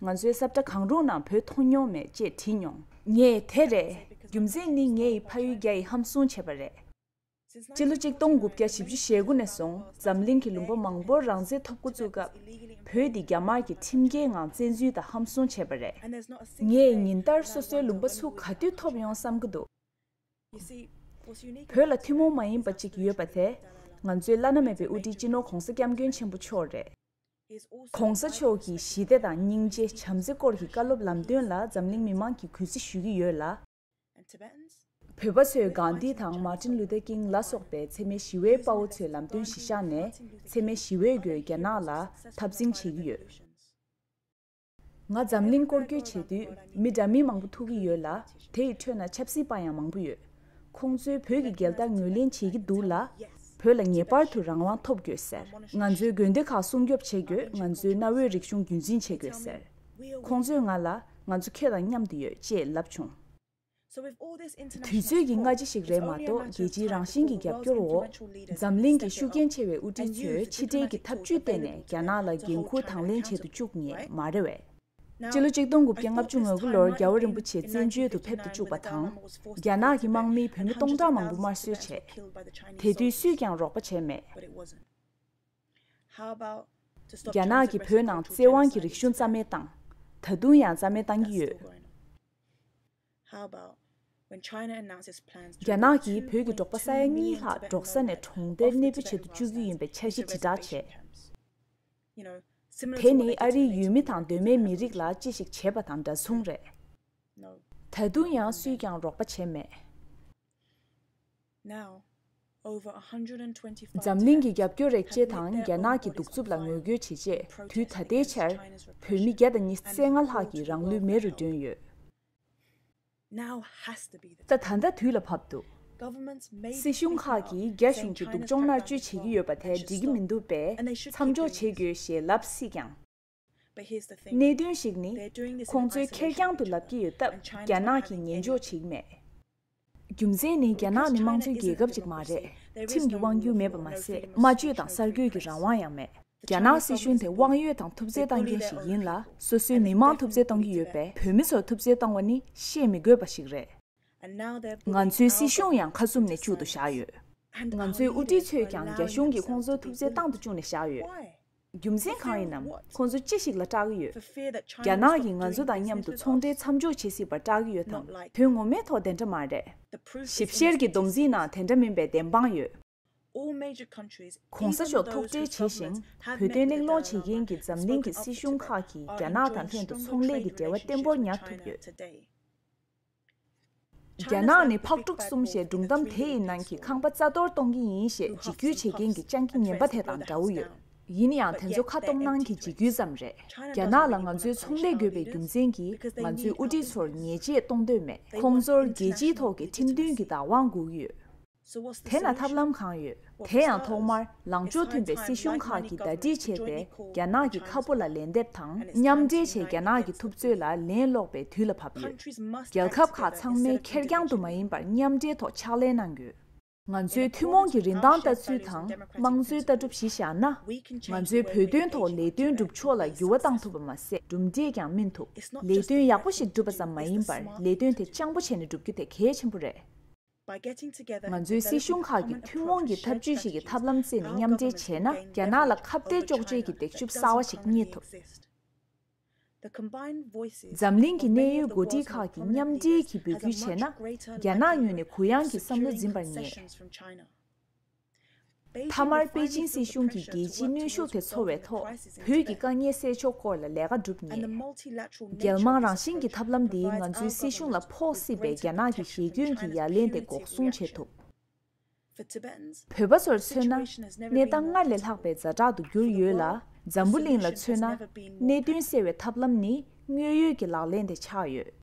ང་ཚོའི་སྲབ་གྲ་གང་རུང་ནང་བོད་མཐོང་མྱོང་མེད་ཅེས་དྲིས་མྱོང། ངས་དེ་རེད། རྒྱུ་མཚན་ནི་ངས་ཡི་ཕ་ཡུལ་རྒྱ་ཡི་ཧམ་བཟུང་བྱས་པ་རེད། སྤྱི་ལོ་གཅིག་སྟོང་དགུ་བརྒྱ་བཞི་བཅུ་ཞེ་དགུ་ནས་བཟུང་འཛམ་གླིང་གི་ལུང་པ་མང་པོར་རང་བཙན་ཐོབ་འགོ་བཙུགས་སྐབས། བོད་འདི་རྒྱ་དམར་གྱིས་ཁྲིམས་འགལ་ངང་བཙན་འཛུལ་དང་ཧམ་བཟུང་བྱས་པ་རེད། ངས་ཉིན་ལྟར་སོ་སོའི་ལུང་པ་ཚུགས་ག་དུས་ཐོབ་ཡོང་བསམ་གྱི་འདུག་བོད་ལ་ཐུན་མོང་མ་ཡིན་པ་གཅིག་ཡོད་པ་དེ། ང་ཚོའི་བླ་ན་མེད་པའི་དབུ་ཁྲིད་སྤྱི་ནོར་གོང་ས་སྐྱབས་མགོན་ཆེན་པོ་མཆོག་རེད། ྋགོང་ས་མཆོག་གིས་ཞི་བདེ་དང་སྙིང་རྗེ་བྱམས་བརྩེ་སྐོར་གྱི་བཀའ་སློབ་ལམ་སྟོན་ལ་འཛམ་གླིང་མི་མང་གིས་གུས་བརྩི་ཞུས་ཀྱི་ཡོད་ལ། བོད་པ་ཚོས་གངས་ཏི་དང Martin Luther King ལ་སོགས་པའི་འཚེ་མེད་ཞི་བའི་དཔའ་བོ་ཚོའི་ལམ་སྟོན་གཞི་བཞག་ནས་འཚེ་མེད་ཞི་བའི་སྒོས་རྒྱ་ནག་ལ་འཐབ་འཛིང་བྱེད་ཀྱི་ཡོད། ང་འཛམ་གླིང་སྐོར་སྐྱོད་བྱེད་དུས་མི་དྲ་མིན་མང་པོ་ཐུག་གི་ཡོད་ལ་དེ་ཡི་ཁྲོད་ན་ཆབ་སྲིད་པ་ཡང་མང་པོ་ཡོད། ཁོང་ཚོས་བོད་ཀྱི་རྒྱལ་དར་ངོས་ལེན་བྱེད་ཀྱི་འདུག་ལ། བོད་ལ་ངེས་པར་དུ་རང་དབང་ཐོབ་དགོས་ཟེར། ང་ཚོའི་དགོན་སྡེ་ཁག་སྲུང་སྐྱོབ་བྱེད་དགོས་ང་ཚོའི་གནའ་བོའི་རིག་གཞུང་རྒྱུན་འཛིན་བྱེད་དགོས་ཟེར། ཁོང་ཚོས་ང་ལ་ང་ཚོ་ཁྱེད་དང་མཉམ་དུ་ཡོད་ཅེས་ལབ་བྱུང། དུས་ཚོད་ཀྱི་སྔ་ཕྱི་ཞིག་རེད་མ་གཏོགས་རྒྱལ་སྤྱིའི་རང་བཞིན་གྱི་རྒྱབ་སྐྱོར་འོག་འཛམ་གླིང་གི་ཤུགས་རྐྱེན་ཆེ་བའི་དབུ་ཁྲིད་ཚོས་ཕྱི་འབྲེལ་གྱི་ཐབས་ཇུས་བརྟེན་ནས་རྒྱ་ནག་ལ་འགན་འཁུར་དང་ལེན་བྱེད་དུ་བཅུག་ངེས་མ་རེད་བས། སྤྱི་ལོ་གཅིག་སྟོང་དགུ་བརྒྱ་ལྔ་བཅུ་ང་དགུ་ལོར་རྒྱལ་བོ་རིན་པོ་ཆེ་བཙན་བྱོལ་དུ་ཕེབས་དུ་བཅུག་པ་དང། རྒྱ་ནག་གི་དམག་མིས་བོད་མི་སྟོང་ཕྲག་མང་པོ་དམར་གསོད་བྱས། དེ་དུས་སུས་ཀྱང་རོགས་པ་བྱས་མེད། རྒྱ་ནག་གིས་བོད་ནང་བཙན་དབང་གིས་རིག་གཞུང་རྩ་མེད་བཏང། ད་དུང་ཡང་རྩ་མེད་གཏང་གི་ཡོད། རྒྱ་ནག་གིས་བོད་ཀྱི་འབྲོག་པ་ས་ཡ་གཉིས་ལྷག་འབྲོག་ས་ནས་གྲོང་སྡེར་གནས་སྤོས་བྱེད་དུ་བཅུག་གི་ཡིན་པའི་འཆར་གཞི་དྲིལ་བསྒྲགས་བྱས། དེ་ནི་ཨ་རིའི་ཡུལ་མི་དང་གདོད་མའི་མི་རིགས་ལ་ཅི་ཞིག་བྱས་པ་དང་འདྲ་མཚུངས་རེད། ད་དུང་ཡང་སུས་ཀྱང་རོགས་པ་བྱས་མེད། འཛམ་གླིང་གི་རྒྱབ་སྐྱོར་རེག་བྱས་དང་རྒྱ་ནག་གི་གདུག་རྩུབ་ལ་ངོ་རྒོལ་བྱེད་ཆེད་དུས་ད་ལྟའི་ཆར་བོད་མི་བརྒྱ་དང་ཉི་ཚེ་ལྔ་ལྷག་གི་རང་ལུས་མེ་རུ་བསྒྲོན་ཡོད། ད་ད་ལྟ་དུས་ལ་བབ་འདུག་སྲིད་གཞུང་ཁག་གིས་རྒྱ་གཞུང་གི་སྡུག་སྦྱོང་མནར་གཅོད་བྱེད་ཀྱི་ཡོད་པ་དེ་འགྲིག་གི་མི་འདུག་པས་མཚམས་འཇོག་བྱེད་དགོས་ཞེས་ལབ་སྲིད་ཀྱང། གནད་དོན་ཞིག་ནི། ཁོང་ཚོའི་ཁེར་རྐྱང་དུ་ལབ་ཀྱི་ཡོད་སྟབས་རྒྱ་ནག་གིས་ཉན་འཇོག་བྱེད་མེད། རྒྱུ་མཚན་ནི་རྒྱ་ནག་ནི་དམངས་གཙོའི་རྒྱལ་ཁབ་ཅིག་མ་རེད། ཁྲིམས་ཀྱི་དབང་བསྒྱུར་མེད་པ་མ་ཟད་སྨྲ་བརྗོད་དང་གསར་འགོད་ཀྱི་རང་དབང་ཡང་མེད། རྒྱ་ནག་སྲིད་གཞུང་དེ་དབང་ཡོད་དང་ཐུབ་བརྩེ་གཏང་མཁན་ཞིག་ཡིན་ལ་སོ་སོའི་མི་དམངས་ཐུབ་བརྩེ་གཏོང་གི་ཡོད་པས་བོད་མི་ཚོར་ཐུབ་བརྩེ་བཏང་བ་ནི་བཤད་མི་དགོས་པ་ཞིག་རེད། ང་ཚོའི་སྲིད་གཞུང་ཡང་ཁ་གསུམ་ནས་བཅུ་དུ་བཞག་ཡོད། ང་ཚོའི་དབུ་ཁྲིད་ཚོས་ཀྱང་རྒྱ་གཞུང་གིས་ཁོང་ཚོར་ཐུབ་བརྩེ་བཏང་དུ་བཅུག་ནས་བཞག་ཡོད། རྒྱུ་མཚན་གང་ཡིན་ནམ་ཁོང་ཚོ་ཅི་ཞིག་ལ་སྐྲག་གི་ཡོད། རྒྱ་ནག་གིས་ང་ཚོ་དང་མཉམ་དུ་ཚོང་འབྲེལ་མཚམས་འཇོག་བྱེད་སྲིད་པར་སྐྲག་གི་ཡོད་དམ་དོན་ངོ་མའི་ཐོག་དེ་འདྲ་མ་རེད། ཞིབ་བཤེར་གྱི་སྡོམ་རྩིས་ནང་དེ་འདྲ་མིན་པའི་བདེན་དཔང་ཡོད། གོང་ས་མཆོག་ཐུགས་ཁྲལ་བྱས་ཤིང་བོད་དོན་གླེང་སློང་བྱེད་མཁན་གྱི་འཛམ་གླིང་གི་སྲིད་གཞུང་ཁག་གིས་རྒྱ་ནག་དང་ལྷན་དུ་ཚོང་ལས་ཀྱི་འབྲེལ་བ་བརྟན་པོར་ཉར་ཐུབ་ཡོད། རྒྱ་ནག་ནི་ཕག་དཀྲུག་གསུམ་ཞེས་སྒྲུང་གཏམ་དེ་ཡི་ནང་གི་ཁང་པ་རྩ་གཏོར་གཏོང་གི་ཡིན་ཞེས་འཇིགས་སྐུལ་བྱེད་མཁན་གྱི་སྤྱང་ཀི་ངན་པ་དེ་དང་འདྲ་བོ་ཡོད། ཡིན་ཡང་དེ་ཚོ་ཁ་སྟོང་ནང་གི་འཇིགས་སྐུལ་ཙམ་རེད། རྒྱ་ནག་ལ་ང་ཚོའི་ཚོང་ལས་དགོས་པའི་རྒྱུ་མཚན་གྱིས་ང་ཚོའི་དབུ་ཁྲིད་ཚོར་ཉེས་ཆད་གཏོང་འདོད་མེད། ཁོང་ཚོར་རྒྱལ་སྤྱིའི་ཐོག་གི་ཁྲིམས་མཐུན་གྱི་བདག་དབང་བསྒུགས་ཡོད། དེ་ལ་ཐབས་ལམ་གང་ཡོད། དེ་ཡང་ཐོག་མར་ལངས་ཕྱོགས་མཐུན་པའི་སྲིད་གཞུང་ཁག་གིས་ཟླ་སྒྲིལ་བྱས་ཏེ་རྒྱ་ནག་གི་ཁ་ཕོ་ལ་ལན་འདེབས་དང་མཉམ་འབྲེལ་བྱས་རྒྱ་ནག་གི་ཐུབ་ཚོད་ལ་ལན་སློག་པའི་དུས་ལ་བབ་ཡོད། རྒྱལ་ཁབ་ཁག་ཚང་མས་ཁེར་རྐྱང་དུ་མ་ཡིན་པར་མཉམ་འབྲེལ་ཐོག་ཕྱག་ལས་གནང་དགོས། ང་ཚོའི་ཐུན་མོང་གི་རིན་ཐང་ལྟ་ཚུལ་དང་དམངས་གཙོའི་ལྟ་གྲུབ་གཞི་བཞག་ན། ང་ཚོའི་བོད་དོན་ཐོག་ལས་དོན་སྒྲུབ་ཕྱོགས་ལ་འགྱུར་བ་བཏང་ཐུབ་པ་མ་ཟད་གྲུབ་འབྲས་ཀྱང་སྨིན་ཐུབ། ལས་དོན་ཡག་པོ་ཞིག་སྒྲུབ་པ་ཙམ་མ་ཡིན་པར་ལས་དོན་དེ་སྤྱང་པོ་བྱས་ནས་སྒྲུབ་རྒྱུ་དེ་གལ་ཆེན་པོ་རེད། ང་ཚོའི་སྲིད་གཞུང་ཁག་གིས་ཐུན་མོང་གི་འཐབ་ཇུས་ཤིག་གི་ཐབས་ལམ་བརྩིས་ནས་མཉམ་འབྲེལ་བྱས་ན་རྒྱ་ནག་ལ་ཁ་བརྡའི་ལྕོགས་བྱེད་ཀྱི་འདེགས་ཞུབ་གསར་བ་ཞིག་རྙེད་ཐུབ། འཛམ་གླིང་གི་གནས་ཡུལ་འགོ་ཁྲིད་ཁག་གིས་མཉམ་འབྲེལ་གྱིས་འབོད་སྐུལ་བྱས་ན། རྒྱ་ནག་ཉུལ་ནས་གུ་ཡངས་ཀྱི་བསམ་བློ་འཛིན་པར་ངེས། མཐའ་མར་པེ་ཅིན་སྲིད་གཞུང་གིས་རྒྱལ་སྤྱིའི་གནོན་ཤུགས་དེ་ཚོར་བའི་ཐོག་བོད་ཀྱི་དཀའ་ངལ་སེལ་ཕྱོགས་སྐོར་ལ་ལས་ཀ་བསྒྲུབ་ངེས། རྒྱལ་དམངས་རང་བཞིན་གྱི་ཐབས་ལམ་འདིས་ང་ཚོའི་སྲིད་གཞུང་ལ་ཕོག་སྲིད་པའི་རྒྱ་ནག་གི་ཞེ་སྐྱོན་གྱི་ཡ་ལན་དེ་འགོག་སྲུང་བྱེད་ཐུབ། བོད་པ་ཚོར་མཚོན་ན། གནས་སྟངས་སྔར་ལས་ལྷག་པའི་རྫ་བྲག་ཏུ་གྱུར་ཡོད་ལ་འཛམ་བུ་གླིང་ལ་མཚོན་ན། གནད་དོན་སེལ་བའི་ཐབས་ལམ་ནི་དངོས་ཡོད་ཀྱི་ལག་ལེན་དེ་ཆགས་ཡོད།